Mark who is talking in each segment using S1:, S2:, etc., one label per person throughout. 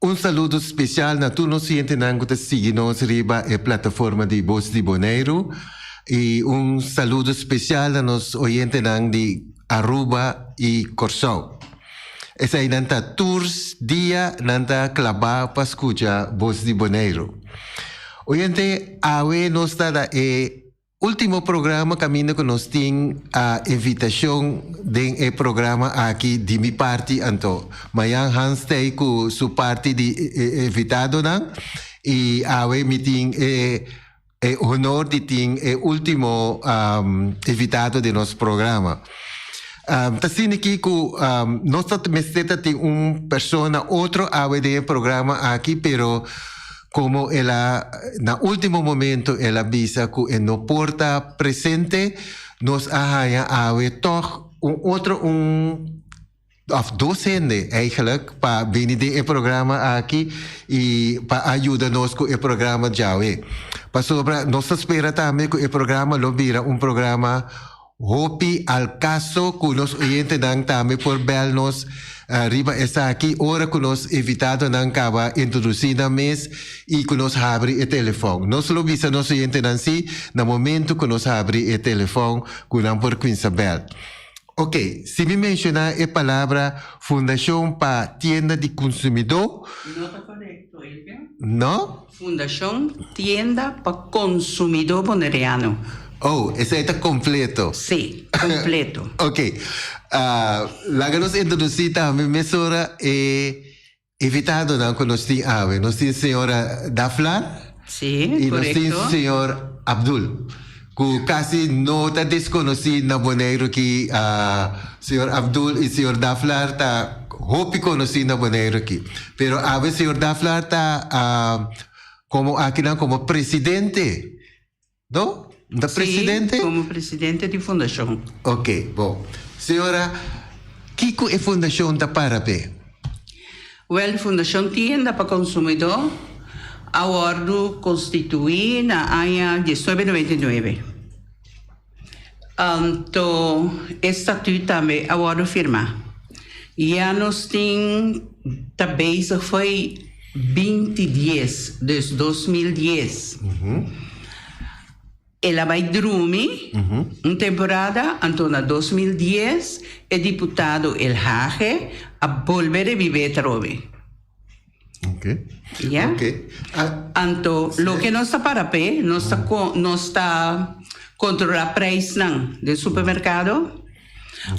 S1: Un saludo special na tur nos oyentenan cu ta sigui nos riba e plataforma di Voz di Boneiru. Y un saludo special na nos oyentenan di Aruba y Corsou. Esai nan ta tur dia nan ta claba pa scucha Voz di Boneiru. Oyente, awe nos ta na e. Ultimo programa caminda cu nos tin a invitacion den e programa aki di mi parti anto. Mayan Hans t'ey cu su parti di invitadonan y awe mi tin e e honor di tin e ultimo invitado den nos programa. Ta asina ki cu nos ta mester ta tin un persona otro awe den e programa aki pero, Komo el a na último momento el a bisa ku e no por ta presente, nos a haña awe tòg un otro un òf dos hende eigelijk pa bini den e programa aki i pa a yuda nos ku e programa djawe. Pasobra nos ta spera tambe ku e programa lo bira un programa. Hopi al caso cu nos oyentenan tambe por bel nos riba esaki ora cu nos invitadonan caba introduci nan mes y cu nos habri e telefon. Nos lo bisa nos oyentenan si na momento cu nos habri e telefon cu nan por cuinsa bel. Ok, si mi menciona e palabra Fundacion pa Tienda di Consumidor,
S2: no?
S1: Fundacion
S2: Tienda pa Consumidor Boneriano. Oh, esei
S1: ta completo. Sí, completo.
S2: Ok.
S1: Laga nos introduci tambe mesora e invitadonan cu nos tin awe. Nos tin señora Daflar. Sí, correcto. Y nos
S2: tin señor
S1: Abdul. cu casi no ta desconoci na Boneiru aki, Señor Abdul y Señor Daflar ta hopi conoci na Boneiru aki. Pero awe Señor Daflar ta como akinan como Presidente, no? No ta Presidente? Si, como Presidente
S2: di Fundacion. Ok,
S1: bon. Señora, kico e Fundacion ta para pe?
S2: Wèl di Fundashon Tienda pa Konsumidó a wòrdu konstituí na aña diesnuebe noventa i nuebe. Anto e statüt tambe a wòrdu firmá. Ya nos tin ta bezig fo'i binti dies, dus dos mil dies. El a bai drumi un temporada, anto na dos mil dies e diputado El Hage a bolbe rebibé atrobe.
S1: Ya. Anto
S2: loke nos ta para p'e, nos ta nos ta kontrolá preisnan den supermerkado.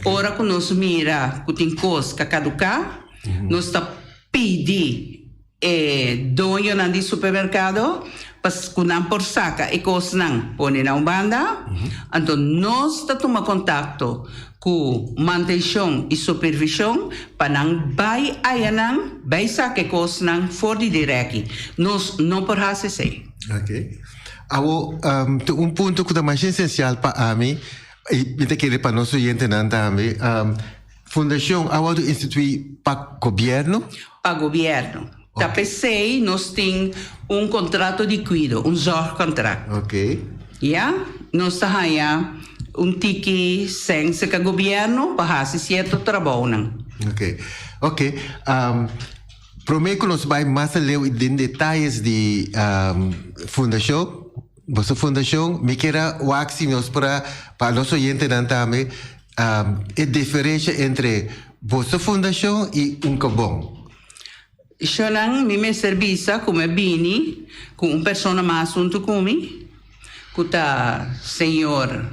S2: Ora ku nos mira ku tin kos ka kaduká, nos ta pidi. e doñonan di supermerkado pa ku nan por saka e kosnan pone na un banda, anto nos ta tuma kontakto ku mantenshon i supervishon pa nan bai ayanan bai saka e kosnan for di dirèki. Nos no por hasi esei. Ok.
S1: Awor, tin un punto ku ta masha esensial pa ami i mi ta kere pa nos oyentenan tambe. Fundashon a wòrdu instituí pa gobièrnu? Pa gobièrnu.
S2: Ta p'esei nos tin un kontrato di kuido, un zòrgkontrakt.
S1: Ya,
S2: nos ta haña un tiki sènse ka gobièrnu pa hasi sierto trabounan. Oke.
S1: Oke. Promé ku nos bai mas aleu den detayes di fundashon. Boso fundacion mi kier a wak si nos por a pa nos oyentenan tambe e diferencia entre boso fundacion y un kobon.
S2: Shonan mi mester bisa como e bini cu un persona mas hunto cu mi cu ta señor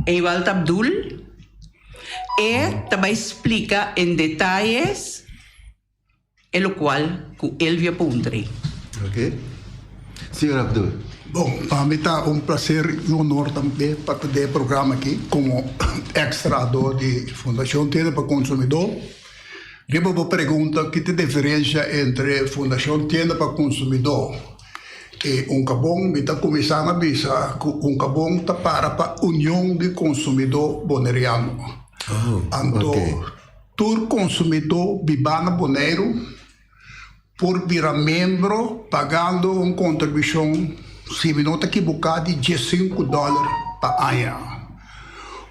S2: Ewald Abdul. E ta bay splica en detalles. E lo cual cu Elvia puntre. Ok.
S1: Señor Abdul. Bon, pa mi
S3: ta un placer y honor tambe pa ta den e programa aki como ex trahador di Fundacion Tienda pa Consumidor. Riba bo pregunta ki ta e diferencia entre Fundacion Tienda pa Consumidor y Uncabon, mi ta cuminsa na bisa cu Uncabon ta para pa Union di Consumidor Boneriano. Anto. Tur konsumidó bibá na Boneiru por bira membro pagando un kontribushon, si mi no ta kibuká, di diesinku dòler pa aña.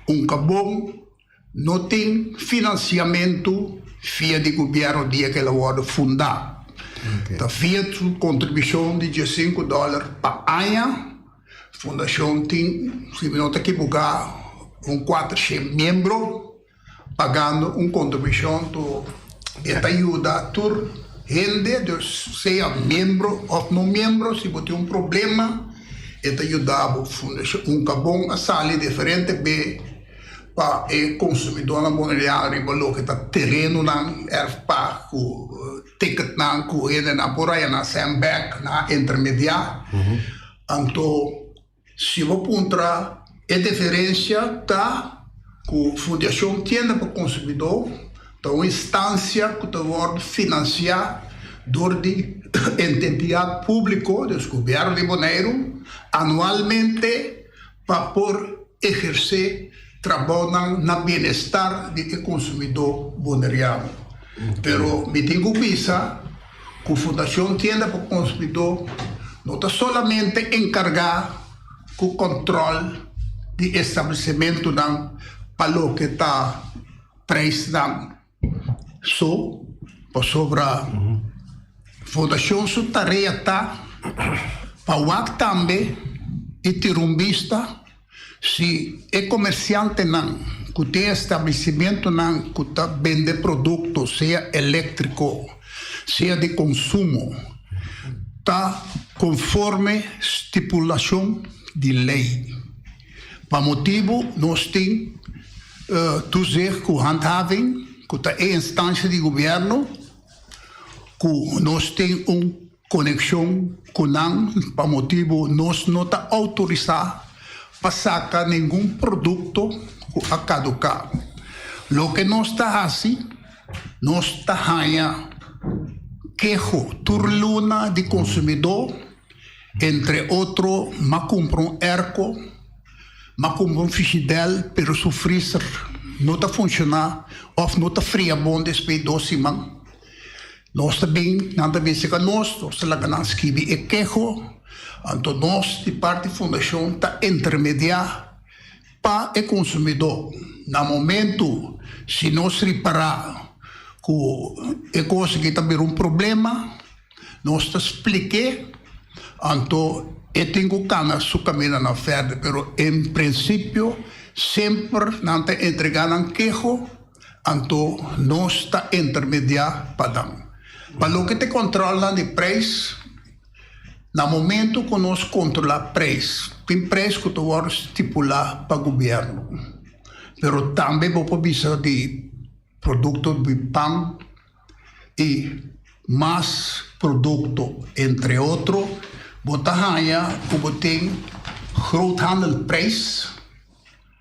S3: Un kabon no tin finansiamentu via di gobièrnu dia ku el a wòrdu fundá. Ta via su kontribushon di diesinku dòler pa aña. Fundashon tin, si mi no ta kibuká, un kuatershen membro. Pagando un kontribishon to e ta yuda tur hende, dus sea miembro òf no miembro, si bo tin un problema e ta yuda bo. Fundashon un ta bon a sali diferente be pa e konsumidónan boneirinano riba loke ta terenonan, erfpa ku tiketnan ku hendenan por haña nan sèn bèk, nan a intermediá. Anto. Si bo puntra, e deferensia ta ku Fundacion Tienda pa Konsumidó ta un instansia ku ta wòrdu finansiá dor di ententidat públiko, dus Gobièrnu di Boneiru, anualmente pa por ehersé trabounan na bienestar di e konsumidó boneriano. Pero mi tin ku bisa. Ku Fundashon Tienda pa Konsumidó no ta solamente enkargá ku kòntròl di establesimentunan pa loke ta preisnan so, pasobra Fundashon su tarea ta pa wak tambe di tin rumbista, Si e komersiantenan ku tin establesimentunan ku ta bende produkto sea eléktriko sea di konsumo ta konforme stipulashon di lei, pa motibu nos tin Toezicht ku Handhaving ku ta e instansha di gobièrnu ku nos tin un. Konekshon ku nan pa motibu nos no ta outorisá pa saka ningun produkto ku a kaduká. Loke nos ta hasi, nos ta haña keho tur luna di konsumidó, entre otro m'a kumpra un erko, m'a kumpra un fishidèl pero su freezer no ta funshoná òf no ta fria bon despues dos siman. Nos ta bin, nan ta bin serka nos, nos ta laga nan skibi e keho, anto nos di parti fundashon ta intermediá pa e konsumidó na momentu si nos ripará ku e kos aki ta bira un problema, nos ta splik'é, anto e tin ku kana su kaminda nan fèrdè, pero en prinsipio semper nan ta entregá nan keho. Anto nos ta intermediá pa nan. Pa loke ta e controlnan di prijs, na momento cu nos controlá prijs, tin prijs cu ta worde stipulá pa gobierno. Pero tambe bo por bisa di producto di pan y mas producto, entre otro, bo ta haña cu bo tin groothandelprijs.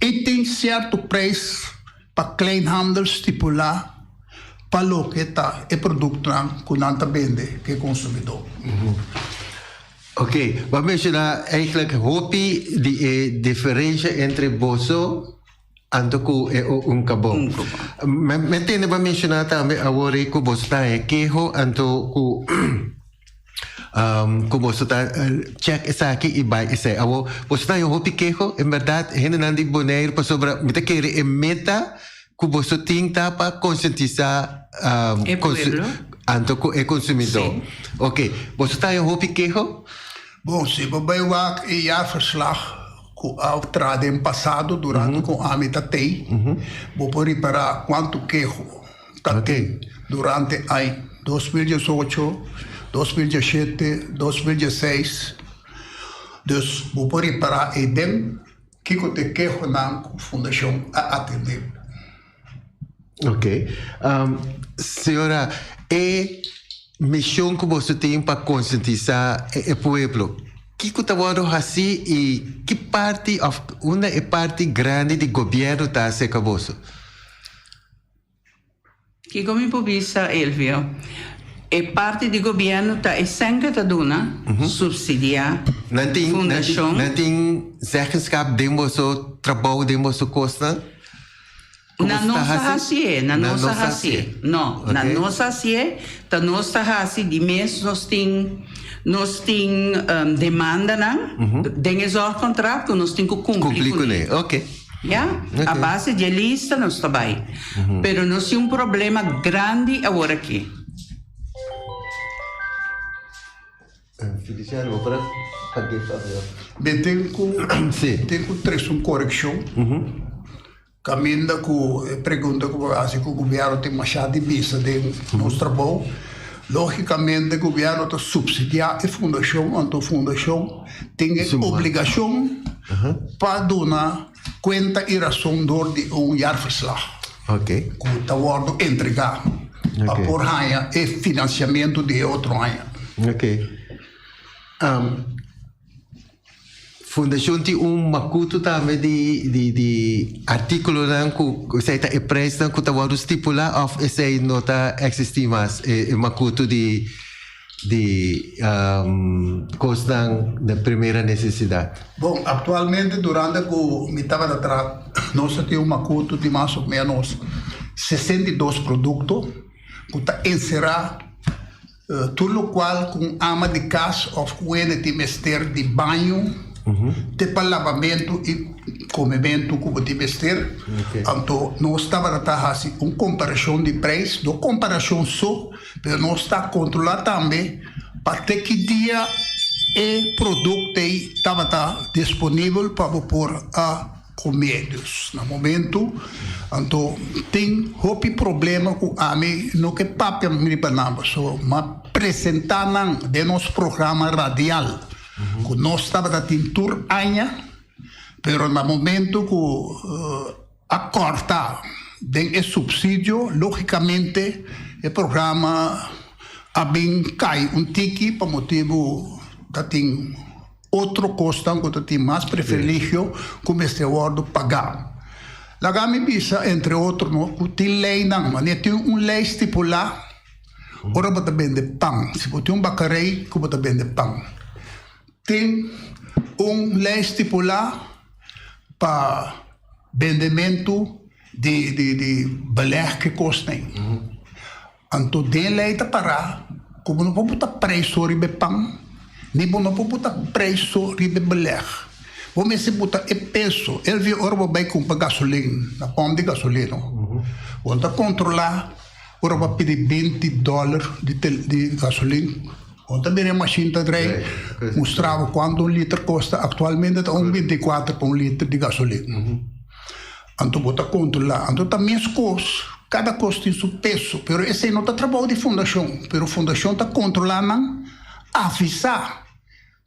S3: i tin sierto prijs pa kleinhandel stipulá pa loke ta e produktonan ku nan ta bende pa e konsumidó. Ok,
S1: bo a menshoná eigentlik hopi di e diferensha entre boso anto ku e un kabó. Mi a tende bo a menshoná tambe awor ei ku boso ta e keho anto ku. Um, cu boso ta uh, check esaki y bai esai. Abo, boso ta yo hopi quejo, en verdad, gente nan di Bonaire, pasobra, mi ta kere e meta cu boso tin ta pa conscientisa, um, e pueblo. Anto cu e consumidor. Sí. Ok, boso ta yo hopi quejo? Bon, si
S3: bo bai wak e jaarverslag cu a tra den pasado, durante mm -hmm. cu ami ta tei, mm -hmm. bo por ripara cuanto quejo ta tin durante ai dos mil diesocho, dos mil diesete, dos mil diesseis, dus bo por repará ei den kiko ta e kehonan ku fundashon a atendé.
S1: Oke, señora, e mishon ku boso tin pa konsientisá e pueblo, kiko ta wòrdu hasí i ki parti òf unda e parti grandi di gobièrnu ta aserka boso?
S2: Kiko mi por bisa Elvio? E parti di gobierno ta esempel ta duna, subsidia fundacion. Nan tin
S1: zeggenschap den boso trabou, den boso cosnan?
S2: Na nos ta haci e, na nos a haci e. No, na nos haci e, ta nos ta haci di mes nos tin, nos tin demandanan den e zorgcontract cu nos tin cu cumpli cu ne. Ya,
S1: a
S2: base dje lista nos ta bai, pero nos tin un problema grandi aworakí. Mi
S1: tin
S3: ku tin ku tres un korekshon, kaminda ku e pregunta ku bo a hasi ku gobièrnu tin mashá dibisa den nos trabou. Lógikamente gobièrnu ta supsidiá e fundashon, anto fundashon tin e obligashon pa duna kuenta i rason dor di un jaarverslag
S1: ku ta wòrdu
S3: entregá pa por haña e finansiamentu di e otro aña.
S1: Fundashon tin un makutu tambe di artíkulonan ku esei ta e preisnan ku ta wòrdu stipulá òf esei no ta eksistí mas, e makutu di di kosnan di primera nesesidat. Bon, aktualmente
S3: durante ku mi tabata traha nos a tin un makutu di mas o ménos sesenta i dos produkto ku ta enserá tur lokual ku un ama di kas òf ku hende tin mester di baño te pa labamentu i komementu ku bo tin mester. Anto nos tabata ta hasi un komparashon di preis, dos komparashon so. Pero nos ta kontrolá tambe pa te ki dia e produkto ei tabata disponibel pa bo por a kum'é. Dus na momentu anto tin hopi problema ku ami no ke papia riba nan bo so m'a presentá nan den nos programa radial ku nos tabata tin tur aña, pero na momentu ku. A kòrta den e supsidio, lógikamente e programa a bin kai un tiki pa motibu ta tin otro kosnan ku ta tin mas preferligio ku mester wòrdu pagá. Laga mi bisa, entre otro, no ku tin leinan. Wanneer tin un lei stipulá ora bo ta bende pan, si bo tin un bakarei ku bo ta bende pan, Tin un lei stipulá pa bendementu di di belèg e kosnan ei. Anto den lei ta pará ku bo no por puta preso riba e pan, ni bo no por puta preso riba e belèg. Bo mester puta e peso. Elvio, ora bo bai kumpa gasolin na pòmp di gasolino, bo ta kontrolá ora bo a pidi binti dòler di gasolin. Kon ta bira e mashin ta drei mustraba kuantu un liter kosta, aktualmente ta un binti i kuater pa un liter di gasolin. Anto bo ta kontrolá, anto ta mes kos, kada kos tin su peso, pero esei no ta trabou di fundashon, pero fundashon ta kontrolá nan, avisá,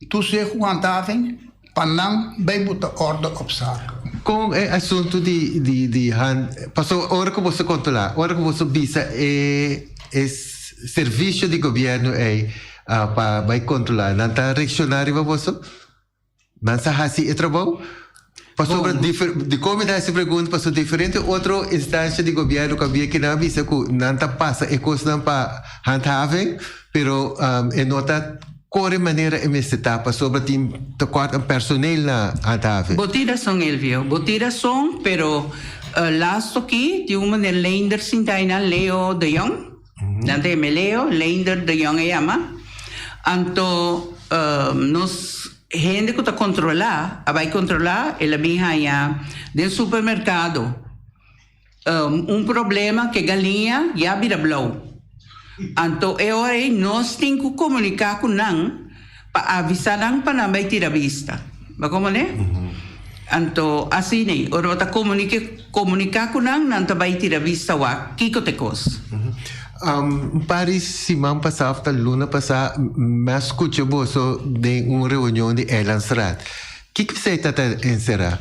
S3: tur seg ku hantafing, Pa nan bay bo ta orda op zak. Con e
S1: asunto di di hand paso ora cu boso controla ora cu boso bisa e e servicio di gobierno ey pa bay controla nan ta reacciona riba boso? Nan sa haci e trabou? Pasobra dicor mi ta haci e pregunta paso diferente otro instancia di gobierno cu a bia cu nan a bisa cu nan ta pasa e cosnan pa handhaving pero e no ta Kore manera e mester ta pasobra tin tekort den personeel na Handhaven. Bo tira son Elvio,
S2: bo tira son pero las toki di un maner Leender Sintayna Leo de Jong, nan ta yama e Leo, Leender de Jong a yama, anto nos hende ku ta kontrola a bai kontrola el a bin haña den supermerkado. Un problema ku e galiña ya bira blou. Anto e ora ei nos tin ku komuniká ku nan pa avisá nan pa nan bai tira bista. Bo komprendé? Anto asina ei, ora bo ta komuniká ku nan, nan ta bai tira bista wak kiko ta e kos. Un
S1: par di siman pasá òf ta luna pasá mi a skucha boso den un reunion di Eilandsraad. Kiko esei ta ta enserá?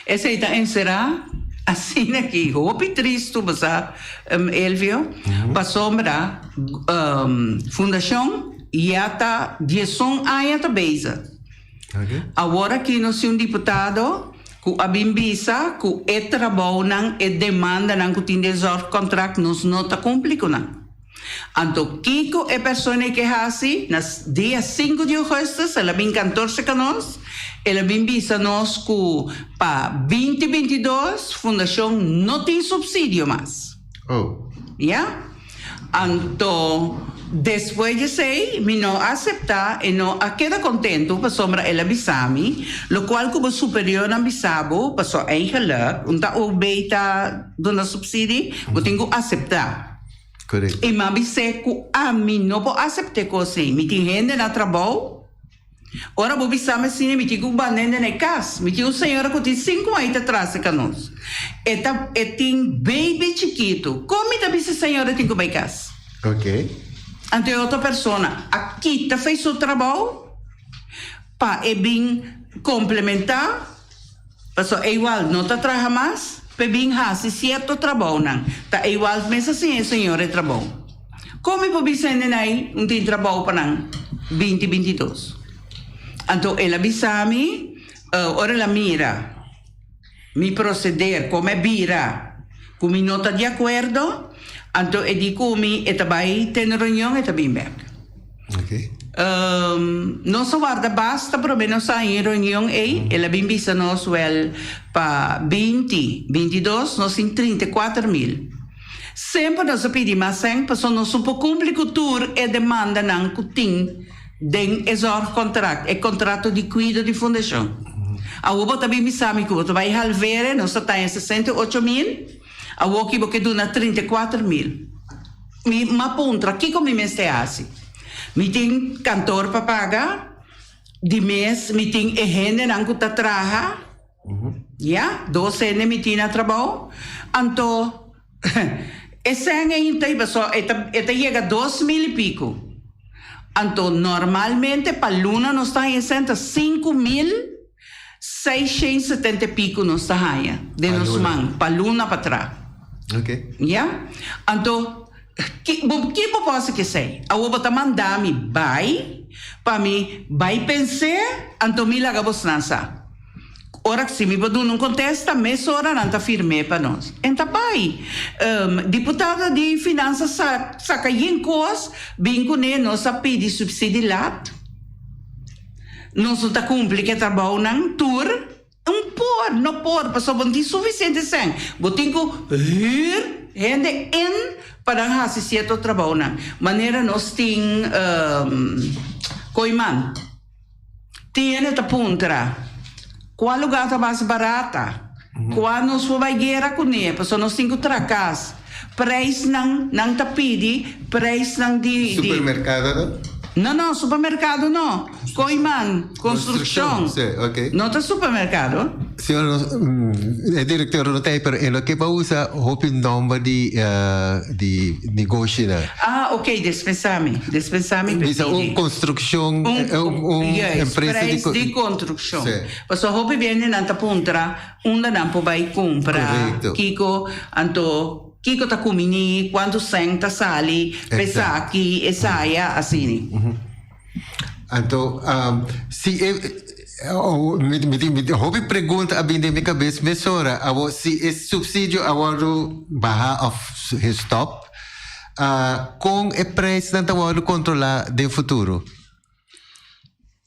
S1: Esei ta
S2: enserá asina ki hopi tristu bo sa, Elvio, pasobra fundashon ya ta dieson aña ta bezig. Awor aki nos tin un diputado ku a bin bisa ku e trabounan, e demandanan ku tin den zòrg kontrakt nos no ta kumpli ku nan. Anto kico e persona eke haci? Na dia sinku di Augustus el a bin kantorse ka nos, el a bin bisa nos cu pa binti binti dos fundacion no tin subsidio mas. Oh. Ya. Anto despues di esey mi no a acepta e no a keda contento pasobra el a bisa mi locual cu bo superiornan bisa bo pa so eigen lek un ta o bay ta duna subsidi bo tin cu acepta. I m'a
S1: bis'é ku
S2: ami no por asept'é kos ei. Mi tin hende na trabou. Ora bo bisam asina, mi tin ku banda hende na e kas. Mi tin un señora ku tin sinku mai ta trase ka nos. E ta, e tin beibi chikitu. Kon mi ta bisa e señora tin ku bai kas?
S1: Anto e otro
S2: persona a kita fei su trabou pa e bin komplementá? Paso Ewald no ta traha mas, p'e bin hasi cierto trabounan. Ta Ewald mes a siña e señor e trabou. Con mi por bisa e nenai un tin trabou pa nan binti binti dos? Anto el a bisa mi, ora el a mira mi proceder como e bira cu mi no ta di acuerdo, anto e di cu mi e ta bay te un reunion e ta bin bek. Nos a warda basta promé nos ta ein reunion ei, el a bin bisa nos wel pa binti, binti dos, nos tin trinta i kuater mil. Semper nos a pidi mas sèn pasobra nos no por kumpli ku tur e demandanan ku tin den e zòrgkontrakt, e kontrato di kuido di fundashon. Awor bo ta bin bisa mi ku bo ta bai halvere, nos ta taña sesenta i ocho mil. Awoki bo ke duna trinta i kuater mil. Mi m'a puntra, kiko mi mester hasi? Mi tin kantor pa paga, di mes mi tin e hendenan ku ta traha, ya, dos hende mi tin na trabou. Anto, e sèn ein ta i basó, e ta e ta yega dos mil i piku. Anto, normalmente pa luna nos ta hasi e sèn ta sinku mil. Seis shen setenta i pico nos ta haña den nos man pa luna pa tra. Ya? Anto, ki, bo, ki bo por hasi cu esei? Awor bo ta manda mi bai pa mi bai pens'e, anto mi laga bosnan sa. Ora si mi por duna un contesta, mesora nan ta firm'e pa nos. En ta bai. Um, diputado di Finansa sa saca yen cos, bin cune nos a pidi subsidi lat. Nos no ta cumpli cu e trabounan tur? N por, no por, pasobra bo no tin suficiente sèn. Bo tin cu hür hende in pa nan haci cierto trabounan, manera nos tin koiman. Tin hende ta puntra. Kua lugar ta mas barata? Kua nos por bai guera kuné pasobra nos tin ku trakas preisnan, nan ta pidi preisnan di, di. Supermerkado no?
S1: No, no, supermerkado
S2: no. Koiman, konstrukshon. Konstrukshon, sí, ok. No ta
S1: supermerkado.
S2: Señor, nos, mm,
S1: e direktor no ta ei, pero e lo ke pa usa hopi nòmber di, eh, di negoshinan. Ah, ok, despensá
S2: mi, despensá mi, Bisa
S1: un konstrukshon, eh, un, un empresa di. Preis di kontruk.
S2: Shon. Paso hopi
S1: bende
S2: nan ta puntra unda nan por bai cumpra, kico
S1: anto,
S2: kico ta cumi ni, cuanto cent ta sali, pesaki, esaya, asini.
S1: Anto, si e, hopi pregunta a bini den mi cabes mesora, abo, si e subsidio a wordo baha of stop, con e prijsnan ta wordo controla den futuro?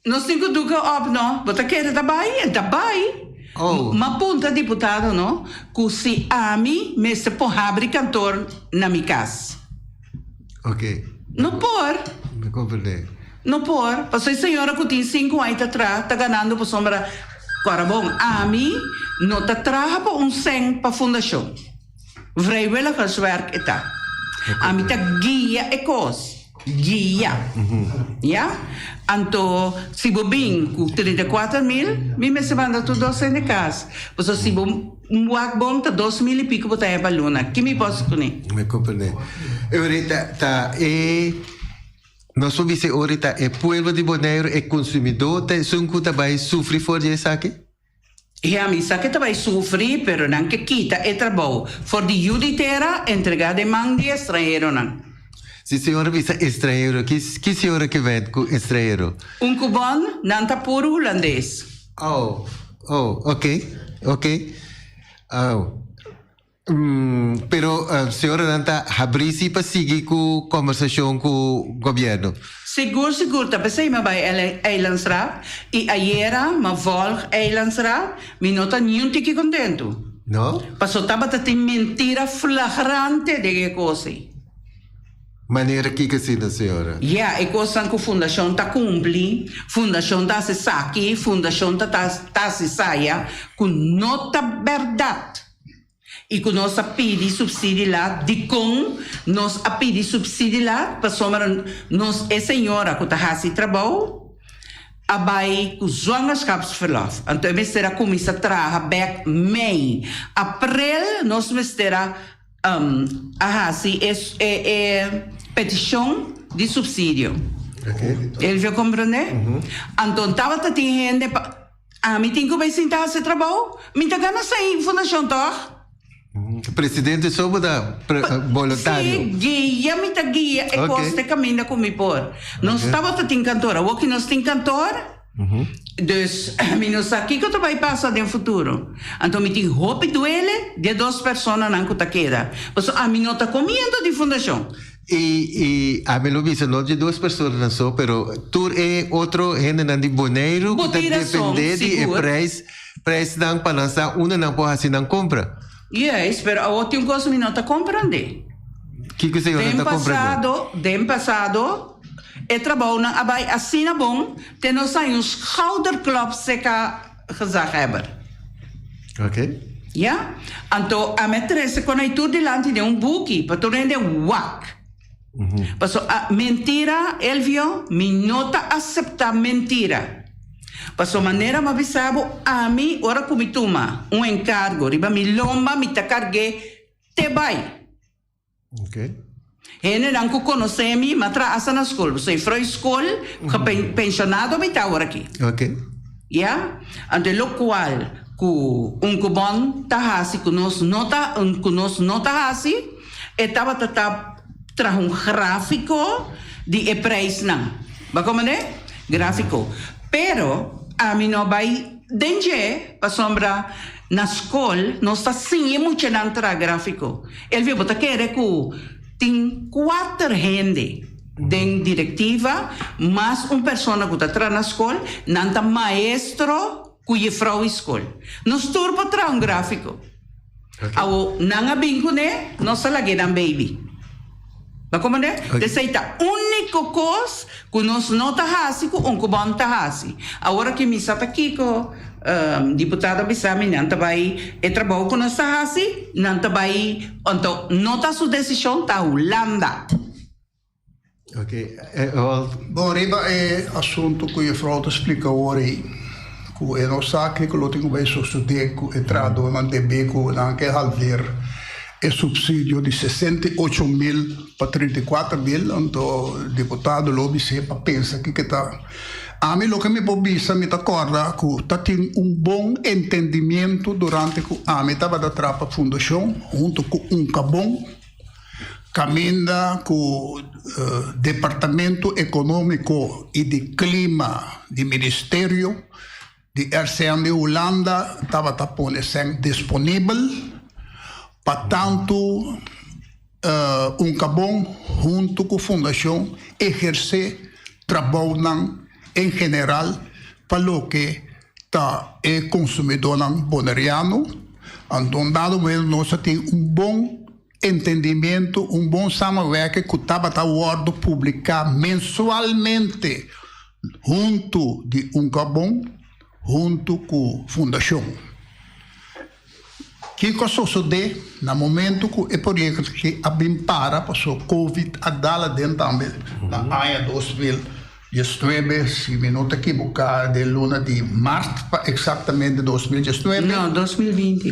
S2: Nos tin cu duca op no. Bo ta kere ta bay? El ta bay. Oh. M'a punta diputado no cu si ami mester por habri kantoor na mi cas. Ok. No por. Mi comprende. No por, paso e señora cu tin cinco aña ta traha ta ganando pasobra Corabon. Ami no ta traha pa un cen pa fundacion. Vrijwilligerswerk e ta. Ami ta guia e kos. Guia. Ya? Anto, si bo bin ku trinta i kuater mil, mi mester manda tur dos hende kas. Pasobra si bo wak bon, ta dos mil i pico bo ta heba luna. Ki mi por hasi kuné? Mi komprendé.
S1: E ori ta, ta e, nos por bis'e ori ta e pueblo di Boneiru, e konsumidó ta esun ku ta bai sufri for di esaki? He a
S2: misa ke ta bai sufri, pero nan ke kita e trabou for di yu di tera entregá den man di estranheronan. Si señora
S1: bisa estranhero, ki señora ke wet ku estranhero? Un kubòn,
S2: nan ta puru hulandes. Aw, aw, oke,
S1: oke, aw. Pero señoranan ta habrí sí pa sigui cu conversacion cu gobierno? Sigur sigur
S2: ta p'esey m'a bay Eilandsraad y ayera m'a volg Eilandsraad, mi no ta niun tiki contento. No? Paso
S1: tabata tin
S2: mentira flagrante den e cos ey.
S1: Manera kico asina señora? Ya, e cosnan cu
S2: fundacion ta cumpli, fundacion ta haci saki, fundacion ta haci saya cu no ta berdad. I cu nos a pidi subsidi la, dicon nos a pidi subsidi la? Pasobra nos e señora cu ta haci e trabou a bay cu zwangerschapsverlof, anto e mester a cuminsa traha bek mei april. Nos mester a a haci e e peticion di subsidio. Elvio comprende? Anto tabata tin hende pa. Ami tin cu bay sinta haci trabao. Mi ta gana sai fundacion toch? Presidente
S1: sobo ta boluntario. Si, guia
S2: mi ta guia e cos te caminda cu mi por. Nos tabata tin kantoor. Awoki nos tin kantoor. Dus mi no sa kico ta bay pasa den futuro. Anto mi tin hopi duele di e dos personanan cu ta keda. Pasobra ami no ta comiendo di fundacion. I i
S1: ami lo bisa no dje dos personanan so pero tur e otro hendenan di Boneiru ku ta dependé di e prijs prijsnan pa nan sa unda nan por hasi nan kompra. Juis, pero
S2: awor tin un kos mi no ta komprendé. Kiko
S1: sa yu no ta komprendé? Den pasado, den pasado
S2: e trabounan a bai asina bon te nos sai un schouderklop seka gezaghebber. Ok.
S1: Ya?
S2: Anto a me trese con ai tur dilanti den un buki pa tur hende wak. Paso a mentira, Elvio, mi no ta acepta mentira. Paso manera mi a bisa bo, ami ora cu mi tuma un encargo riba mi lomba mi ta carge te bay. Ok.
S1: Hendenan
S2: ku konosé mi m'a trahasa na skol, bo soy frou skol, penshonado mi ta awor aki. Ok. Ya? Anto e lokual ku un kubon ta hasi ku nos no ta ku nos no ta hasi, e tabata ta traha un gráfiko di e preisnan. Bo a komprendé? Gráfiko. Pero ami no a bai den dje pasobra, Na skol nos ta siña e muchanan traha gráfiko. Elvio, bo ta kere ku tin kuater hende den direktiva mas un persona ku ta traha na skol, nan ta maestro ku yefrou i skol. Nos tur por traha un gráfiko. Awo nan a bin kuné, nos ta lag'é nan beibi. Ta con manera? Oye. Esey ta unico cos cu nos no ta haci cu un cubano ta haci. Awor aki mi sa ta kico, ehm, diputado a bisa mi nan ta bay, e trabao cu nos ta haci, nan ta bay, anto no ta su decision, ta Hulanda.
S1: Ok, eh, Roald.
S3: Bon, riba e asunto cu juffrouw ta splica awor ey, cu e no sa kico lo tin cu bay sucede cu e trahadornan debe cu nan a ke halder, E supsidio di sesenta i ocho mil pa trinta i kuater mil, anto diputado lo bis'é pa pensa kiko e ta. Ami loke mi por bisa, mi ta kòrda ku ta tin un bon entendimiento durante ku ami tabata trapa fundashon huntu ku Uncabom, kaminda ku Departamento Ekonómiko i di Klima di Ministerio, Di RCM di Hulanda tabata pone sèn disponibel pa tantu Uncabon huntu ku fundashon ehersé trabounan en general pa loke ta e konsumidónan boneriano. Andon dado momento nos ta tin un bon. Entendimentu, un bon samenwerking ku tabata wòrdu publiká mensualmente huntu di Uncarbon huntu ku fundashon. Kiko sosodé na momentu ku e proyekto aki a bin para paso Covid a dala den tambe na aña dos mil diesnuebe, si mi no ta kibuká den luna di mart pa eksaktamente dos mil diesnuebe? No, dos mil binti.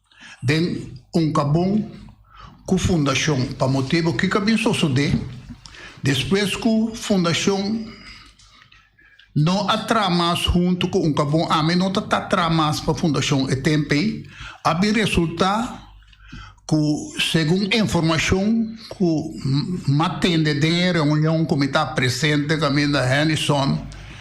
S3: Den un kabon ku fundashon pa motibu kiko a bin sosodé despues ku fundashon no a traha mas huntu ku un kabon ami no ta ta traha mas pa fundashon e tempe a bin resultá ku segun e informashon ku m'a tende den e reunion ku mi ta presente kaminda Hennyson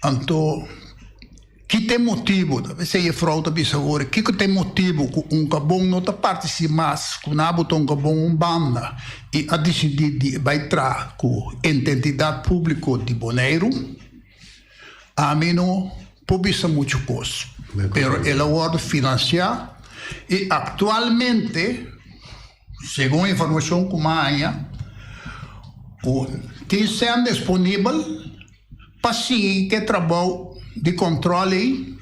S3: Anto, ki ta e motibu, ta mester e frou ta bisa awor, kiko ta e motibu ku un kabon no ta partisí mas ku na bo ta un kabon un banda i a disidí di e bai tra ku ententidat públiko di Boneiru? Ami no por bisa muchu kos, pero el a wòrdu finansiá i aktualmente, Segun informashon ku mi a haña, ku tin sèn disponibel pa sigui ku e trabou di kòntròl ei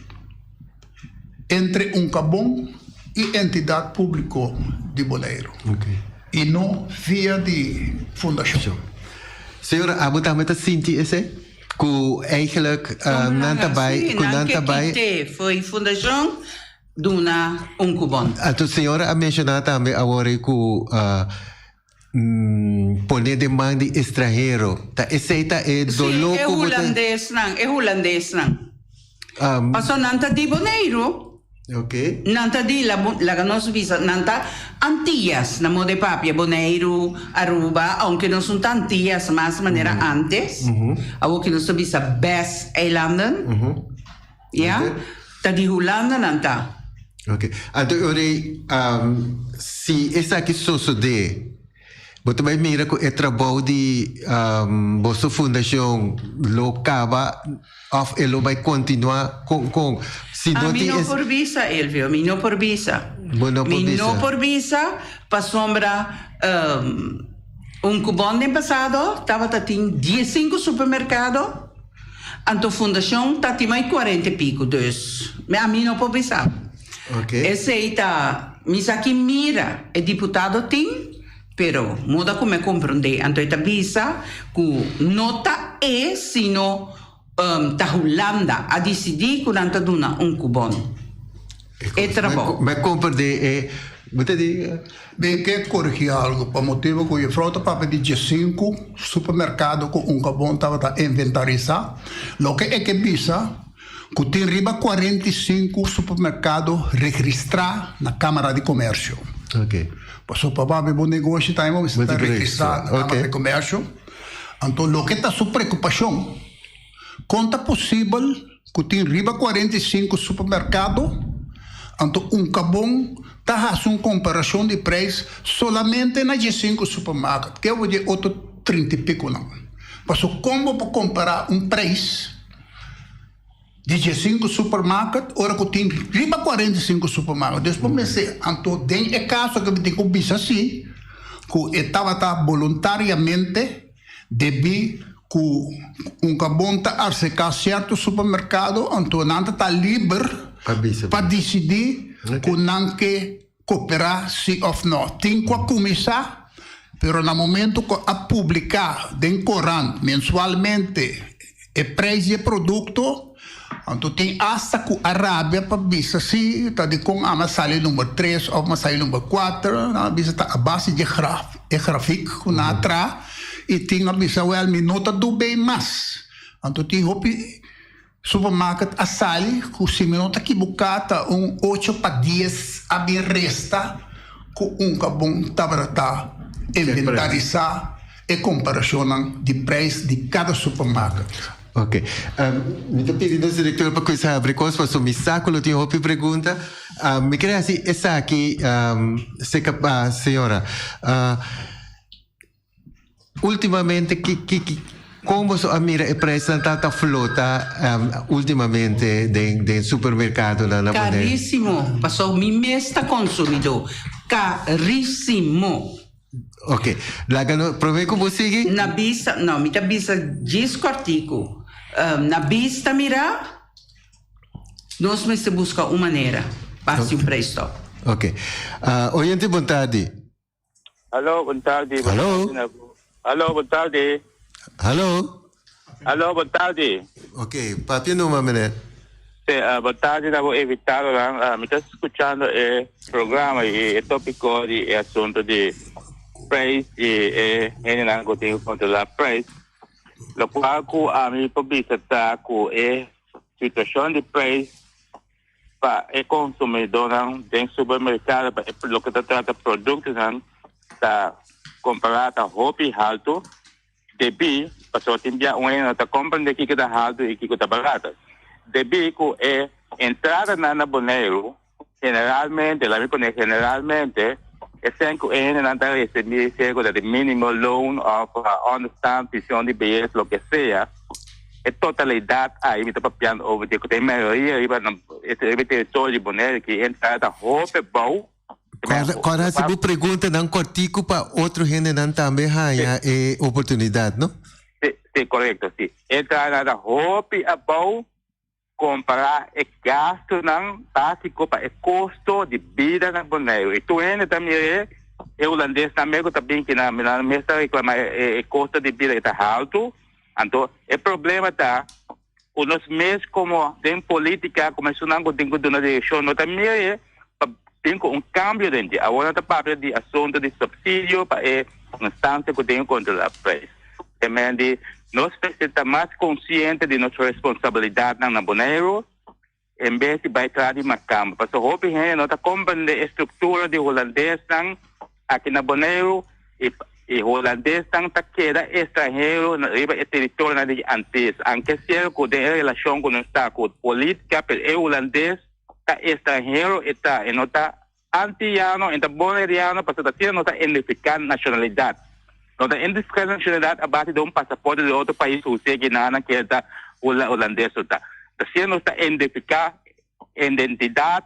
S3: entre Uncabon i entidat públiko di Boleiro, i
S1: no
S3: via di fundashon. Señora,
S1: amo tambe ta sinti esei? Ku eigelijk nan ta bai, ku nan ta bai. Nan ke kité
S2: for e fundashon? duna un ku bon. Anto señora a
S1: menshoná tambe awor ei ku pone den man di estranhero. Ta esei ta e doló ku bo ta. Si, e hulandesnan,
S2: e hulandesnan. Pasobra nan ta di Boneiru. Oké.
S1: Nan ta di,
S2: laga nos bisa, nan ta Antias, na moda e papia, Boneiru, Aruba, ounke nos no ta Antias mas manera antes. Awor ke nos ta bisa Bes-eilanden. Ya, ta di Hulanda nan ta. Ok,
S1: anto e ora ei si esaki sosode bo ta bai mira ku e trabou di boso fundashon lo kaba òf e lo bai kontinuá? Kon kon si no tin es. Mi
S2: no por bisa, Elvio, mi no por bisa. Bo no por bisa. Mi no por bisa pasobra un kupon den pasado tabata tin diesinku supermerkado. Anto fundacion ta ti mai cuarenta y pico, dus me a mi no por bisa. Esey
S1: ta
S2: misaki mira e diputado tin, pero moda cu me compronde anto e ta bisa cu no ta e sino ta Hulanda a dicidi cu nan ta duna un cubon. e trabou. Mei compra di e,
S1: bo ta dinga.
S3: Mei ke corigi algo, pa motibo cu Juffrouw ta papia di diecinku supermercado cu un cabon tabata inventarisa, loke e ke bisa cu tin riba cuarenta y cinco supermercado regristra na Camara di Comercio.
S1: Paso pa papia
S3: bo negoshi tambe bo bisa ta regristra na Camara di Comercio. Anto loke ta su preocupacion. Kon ta posibel ku tin riba kuarenta i sinku supermerkado? Anto unka bon ta hasi un komparashon di preis solamente na djesinku supermarket, ke obo di e otro trinta i pikunan? Paso kon bo por kompará un preis di djesinku supermarket ora ku tin riba kuarenta i sinku supermarket? Dus bo mester, anto den e kaso ke bo tin ku bisa si, ku e tabata boluntariamente Debí ku un kabon ta arseká sierto supermerkado, anto nan ta ta liber pa disidí ku nan ke koperá sí òf nò. Tin ku a kuminsá, pero na momentu ku a publiká den korant mensualmente, E prijs di e produkto, anto tin asta ku a rabia pa bisa si ta di kon a masali number tres òf masali number kuater, nan a bisa ta a base di e grafik ku nan a tra i tin a bisa wèl mi no ta dub'é mas. Anto tin hopi supermarket a sali ku si mi no ta kibuká ta un ocho pa dies a bin resta ku un ka bon tabata inventarisá. e comparacionnan di prijs di cada supermarket. Ok.
S1: Mi ta pidi nos director pa cuinsa habri cos, pasobra mi sa cu lo tin hopi pregunta. Mi quiere haci esaki, señora. Ultimamente, con boso a mira e prijsnan ta flota ultimamente den supermercadonan? Carisimo,
S2: pasobra mi mes ta consumidor. Carisimo.
S1: Ok, laga nos prome ku bo sigui. Na bista, no, mi
S2: ta bisa djis kòrtiku. Na bista mirá, nos mester buska un manera pa hasi un preistòp. Ok.
S1: Oyente bon tardi. Haló,
S4: bon tardi. Haló.
S1: Haló, bon
S4: tardi. Haló.
S1: Aló,
S4: bon tardi. Ok, papia
S1: numa mene. Sí, ah, bon
S4: tardi na bo invitadonan. Ah, mi ta scuchando e programa y e topico di e asunto di prijs y e hendenan cu tin cu controla prijs. Lo cual cu ami por bisa ta cu e situacion di prijs pa e consumidornan den supermercado, pa e, loke ta trata productonan ta compará ta hopi halto Debí, pasobra tin bia un hende no ta komprendé kiko ta haltu i kiko ta barato. Debí ku e entradanan na Boneiru, generalmente, laga mi pone generalmente, esei ku e hendenan ta resibí serka ta di mínimo loon òf ònderstand, vision di beyes, loke sea, e totalidat ahí mi ta papiando over dje ku ta e mayoria riba e territorio di Boneiru, ku e entrada ta hopi bou. Cora, cora
S1: hace mi pregunta nan cortico para otro gente nan también haya sí. eh, oportunidad, ¿no? Sí, sí, correcto,
S4: sí. Él trae la hopi abou comparar el gasto nan básico para el costo de vida nan Bonaire. Y tu gente también eh, el holandés también que también que nan nan mesta reclamar el costo de vida está alto. Anto el problema está ku nos mes komo den politika ku mesunnan ku tin ku duna direkshon no ta mehe pa bin ku un kambio den dje. Awor no ta papia di asuntu di supsidio pa e instansia ku tin ku kontrolá preis. Te men di nos mester ta mas konsiente di nos responsabilidatnan na Boneiru. en bes di bai tras di Macamba, pasobra hopi hende no ta komprende e struktura di hulandesnan aki na Boneiru i e hulandesnan ta keda estranhero riba e teritorionan di e Antis. Aunke sierko den e relashon ku nos ta ku politika, pero e hulandes ta estranhero e ta, e no ta. Antillano, enta Boneriano pasobra ta asina nos ta identifica nacionalidad. Nos ta identifica nacionalidad a base di un pasaporte di otro pais cu usted ki na nan kier ta Holandes su ta. Ta asina nos ta identifica identidad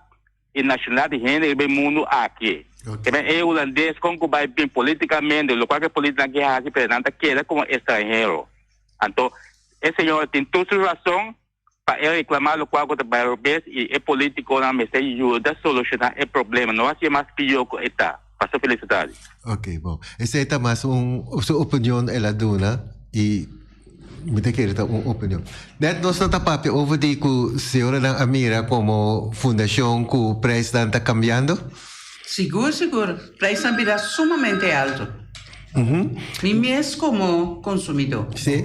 S4: y nacionalidad di hende riba e mundo aki. Kiba e Holandes con cu bay bin politicamente locual ki politi nan ki haci pero nan ta keda como estranhero. Anto e señora tin tur su razon. pa e reclama locual cu ta bay robes y e politiconan mester yuda soluciona e problema, no haci'e mas pior cu e ta. Paso felicidades. Ok, bon.
S1: Esei ta mas un su opinion el a duna y mi ta kere ta un opinion. Net nos no ta papia over di cu señoranan a mira como fundacion cu prijsnan ta cambiando? Sigur,
S2: sigur. Prijsnan bira sumamente alto. Mi mes como consumidor. Si.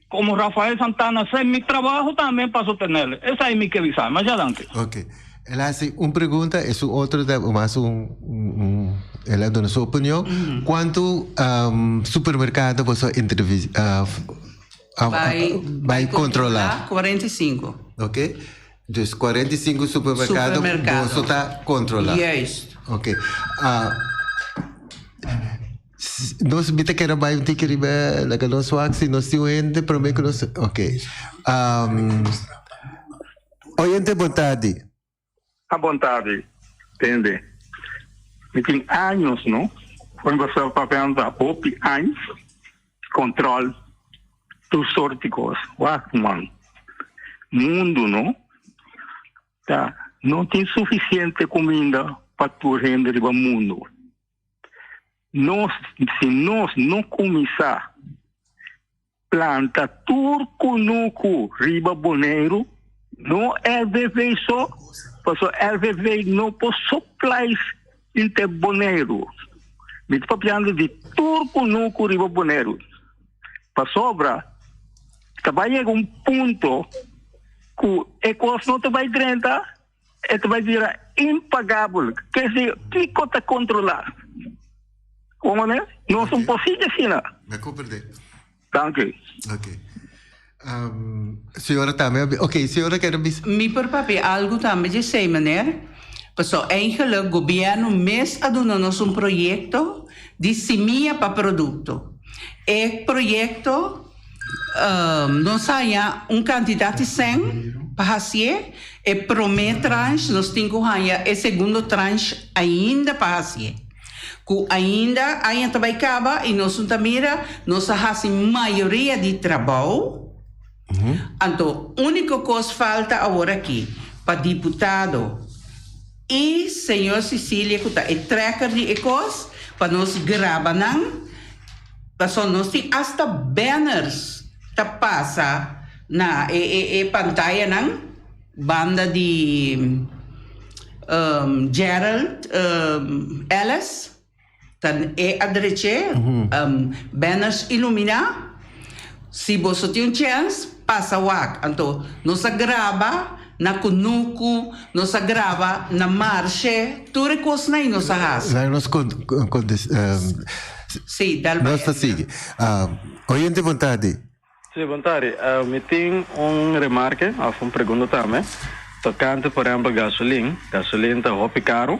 S5: Como Rafael Santana sa mi trabaho tambe pa sotenel. Esai mi ke bisa. Masha danki. Ok. El a
S1: haci un pregunta y su otro ta mas un el a duna su opinion. Cuanto supermercado boso a bai controla? Cuarenta y cinco. Ok. Dus cuarenta y cinco supermercado boso ta controla. Juist. Ok. Nos mi ta keda bai un tiki riba like nos wak si nos tin un hende prome ku nos ok um, oyente bon tardi A bon
S6: tardi tende mi tin años no for mi basal papel ta hopi años control tur sort di cos wak man mundo no ta no tin suficiente cuminda pa tur hende riba mundo Nos, si nos no kuminsá planta tur kunuku riba Boneiru, no LVV so, paso LVV no por supplies inte Boneiru. Mi ta papiando di tur kunuku riba Boneiru. Pasobra ta bai yega un punto ku e kos no ta bai drenta. E ta bai bira impagabel. Ke si kiko ta kontrolá? Ua manera nos un positi asina. Na komprendé.
S1: Danki.
S6: Ok.
S1: Señora tambe a ok, señora keda bisa. Mi por papia algu
S2: tambe dje esei maner, paso eingeluk gobièrnu mes a duna nos un proyekto di simia pa produkto. E proyekto. Nos a haña un kantidat di sèn pa hasié e promé transh, nos tin ku haña e segundo transh ainda pa hasié. Ku ainda aña ta bai kaba i nos no ta mira nos a hasi mayoria di trabou, anto úniko kos falta aworakí pa diputado, I Señor Cecilia cu ta e trekker di e cos pa nos graba nan pasobra nos tin hasta banners ta pasa na e e e pantaya nan banda di Gerald Ellis. Tan e a drech'é, banners iluminá. Si boso tin un chèns, pasa wak. Anto nos a graba na kunuku, nos a graba na marshé, tur e kosnan ei nos a hasi. Laga nos kontinua. Sí, dal bai. Nos ta sigui.
S1: Oyente bon tardi. Si, bon tari.
S7: Mi tin un remarke of un pregunta tambe tokante por ehempel gasolin. Gasolin ta hopi karu.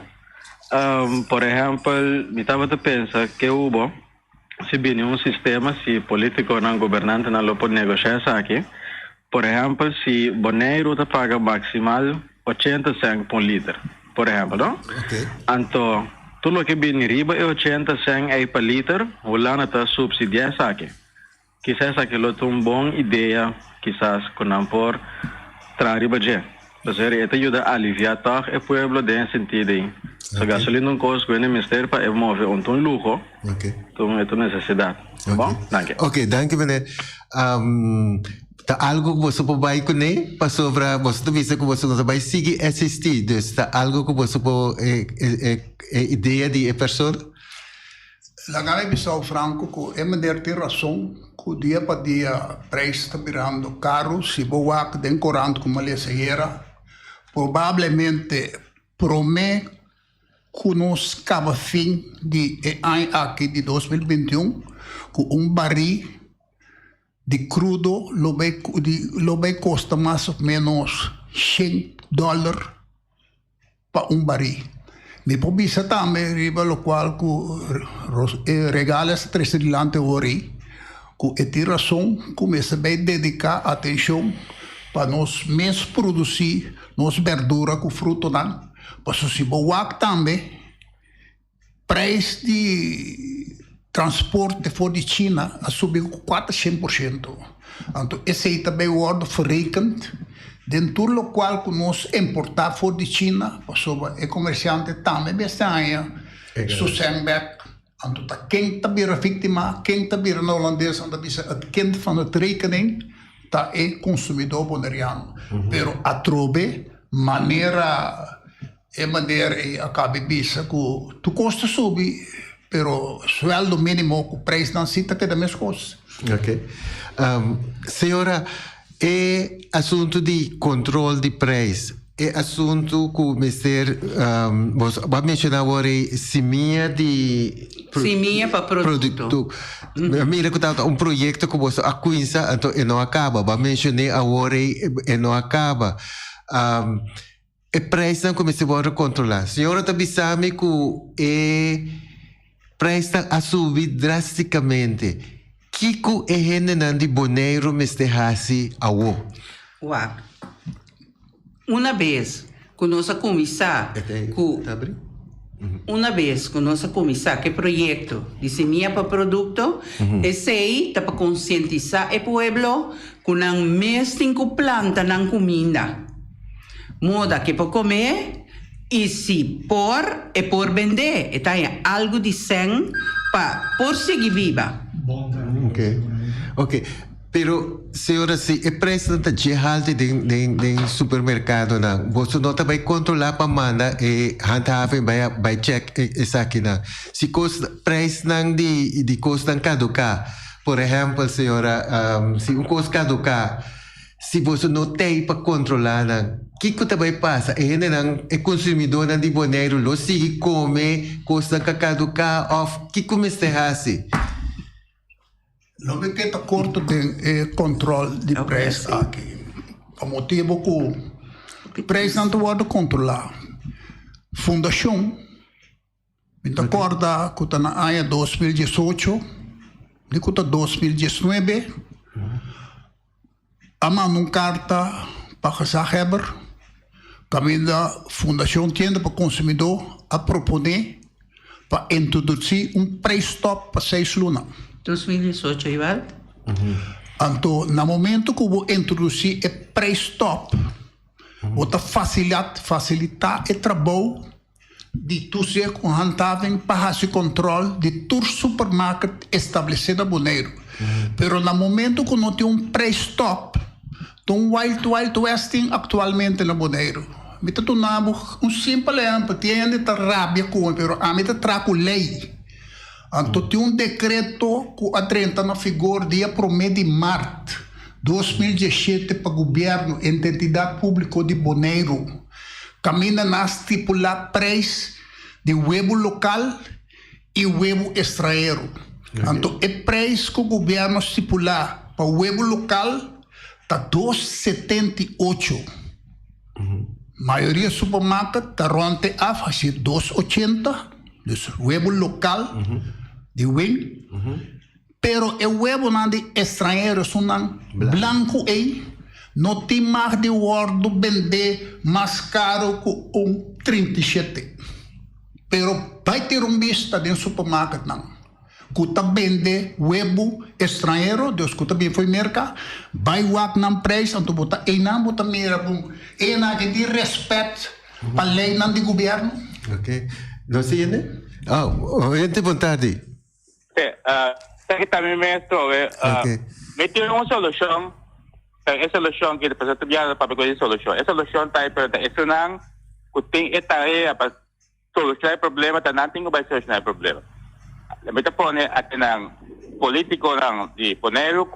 S7: Por ehempel mi tabata pensa ke hu bo si bini un sistema si politiconan, gobernantenan lo por negocia esaki. Por ehempel si Boneiru ta paga maximal ochenta cent pa un liter, por ehempel no. Anto tur loke bini riba e ochenta cent ei pa liter Hulanda ta subsidia esaki. Kisá esaki lo ta un bon idea kisas ku nan por traha riba dje. Pasobra e ta yuda aliviá tòg e pueblo den e sintido ei. So gasolina un kos ku hende mester pa e move un ta un luho, tun e ta un nesesidat. Ta bon? Danki. Oke, danki mené.
S1: Ta algu ku boso por bai kuné? Pasobra boso ta bisa ku boso no ta bai sigui SHT. Dus ta algu ku boso por e idea di e persona?
S3: Laga e bisao franco cu e meneer tin rason cu dia pa dia prijs ta birando caru, si bo wak den corant cu malesa ayera probablemente prome cu nos caba fin di e aña aki di dos mil binti un cu un bari di crudo lo bay lo bay costa mas of menos shen dollar. pa un barí. Mi por bisa tambe riba lokual ku e regales ta trese dilanti hora'i ku e tin rason ku mester bai dediká atenshon pa nos mes produsí nos bèrdura ku frutonan pasobra si bo wak tambe Prijs di transporte for di China a subi cu cuater cien por ciento, anto esey ta bay wordo verrekend den tur locual cu nos importa for di China, pasobra e comerciante tambe mester haya su zengback. Anto ta ken ta bira victima, ken ta bira na Holandes anda bisa het kind van het rekening, ta e consumidor Boneriano. Pero atrobe manera. E manera ei a kabi bisa ku tukos ta subi, pero sueldo minimo ku preisnan si ta keda meskos. Oke.
S1: Señora, e asuntu di kontrol di preis, e asuntu ku mester, bo a menshona awor ei simia di produkto. Simia pa
S2: produkto. Bo a mira
S1: ku ta un proyekto ku boso a kuinsa, anto e no a kaba. Bo a menshoné awor ei e no a kaba. E prijsnan cuminsa wor recontrola. Señora ta bisa mi cu e prijsnan a subi drasticamente. Kico e hendenan di Boneiru mester haci awo? Wak.
S2: Una bes cu nos a cuminsa cu. Una bes ku nos a kuminsá ku e proyekto di Semia pa Produkto, esei ta pa konsientisá e pueblo ku nan mes tin ku planta nan kuminda, moda ku e por kome i si por e por bendé, e ta haña algu di sèn pa por sigui biba. Bon trabajo, Semia. Oke.
S1: Pero, señora, si e preisnan ta dje halti den den supermerkadonan, boso no ta bai kontrolá pa manda e handhaving bai a bai chèk esakinan? Si kos preisnan di di kosnan kaduká, por ehèmpel, señora, si un kos kaduká, si boso no tei pa kontrolá nan, kiko ta bai pasa? E hendenan, e konsumidónan di Boneiru lo sigui kome kosnan ka kaduká òf kiko mester hasi?
S3: Lo mi ke ta korto den e kòntròl di près aki. Pa motibu ku prèsnan ta wòrdu kontrolá. Fundashon, mi ta kòrda ku ta na aña dos mil diesocho di ku ta dos mil diesnuebe, a manda un karta pa gezagheber kaminda Fundashon Tienda pa Konsumidó a proponé pa introdutsí un preistòp pa seis luna. Dos mil diesocho
S2: i bal.
S3: Anto na momentu ku bo introdusí e preistòp bo ta fasilitá e trabou. di Tusia ku han ta bin pa hasi kòntròl di tur supermarket establesé na Boneiru. Pero na momentu ku no tin un preisstòp, ta un wild wild westing aktualmente na Boneiru. Mi ta duna bo un simpel ehèmpel, tin hende ta rabia ku mi pero ami ta traha ku lei. Anto tin un dekreto ku a drenta na figor dia promé di mart dos mil diesshete pa gubièrnu e ententidat públiko di Boneiru kaminda nan a stipulá preis di webu lokal i webu estraheru. Anto e preis ku gubièrnu a stipulá pa webu lokal ta dos setenta i ocho. Mayoria supermarket ta rond te af hasi dos ochenta, dus webo lokal di wen, pero e webonan di estranhero esunnan blanku ei no tin mag di wòrdu bendé mas karu ku un trinta i shete, pero bai te rumbista den supermarketnan. ku ta bende webu estranhero, dus ku ta bin fo'i merka, bai wak nan preis, anto bo ta einan bo ta mira ku enan ke tin respèt pa leinan di gubièrnu. Ok.
S1: Nos siende? Aw, henter bon tardi. Te,
S4: ta kita mi mes trobe. Ok. Mi tin un solushon, pero e solushon ki despues bo ta biaha pape ku e solushon. E solushon ta ei pero ta esnan ku tin e tarea pa. Soluciona e problema ta nan tin cu bay soluciona e problema. Mi ta pone aki nan politiconan di Boneiru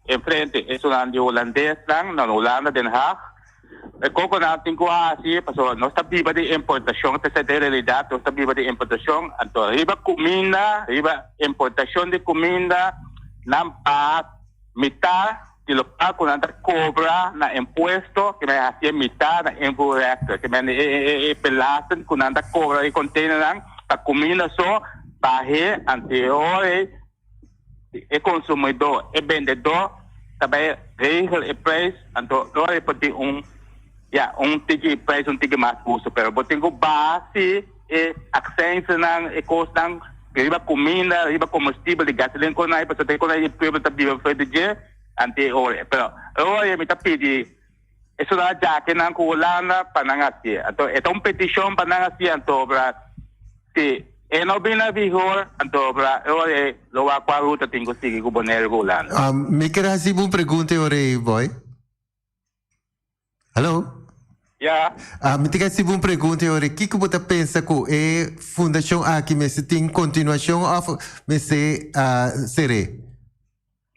S4: enfrente esunnan di Hulandesnan na Hulanda, Den Haag, e coco nan tin cu haci pasobra nos ta biba di importacion, p'esei ta e realidad, nos ta biba di importacion, anto riba cuminda, riba importacion di cuminda nan baha mitar. y local cu nan ta cobra na impuesto que men a hacié mitá na invoerrechter, que men e belasting cu nan ta cobra e containernan ta cuminda so bahé anterior ey e consumidor, e bendedor ta bay regel e prijs anterior ey por tin un, ya, un tiki prijs un tiki mas hustu pero bo tin cu base. E aksènsenan, e kosnan riba kuminda, riba komustibel di gasolin ku unai pasobra e konai e pueblo ta biba afruenta dje anti e ora. Pero e ora mi ta pidi e sudado djakinan ku Hulanda pa nan hasi. Anto e ta un petishon pa nan hasi anto obra si e no bin na vigor anto obra e ora ei lo wak kua ruta tin ku sigui ku Bonaire ku Hulanda. Mi ker hasi bo un
S1: pregunta e ora ei, Boy. Hallo? Ya.
S4: Ah, mi ta kere sibi
S1: un pregunta e ora. Kiko bo ta pensa ku e fundacion aki mester tin kontinuashon of mester ah, ser'é?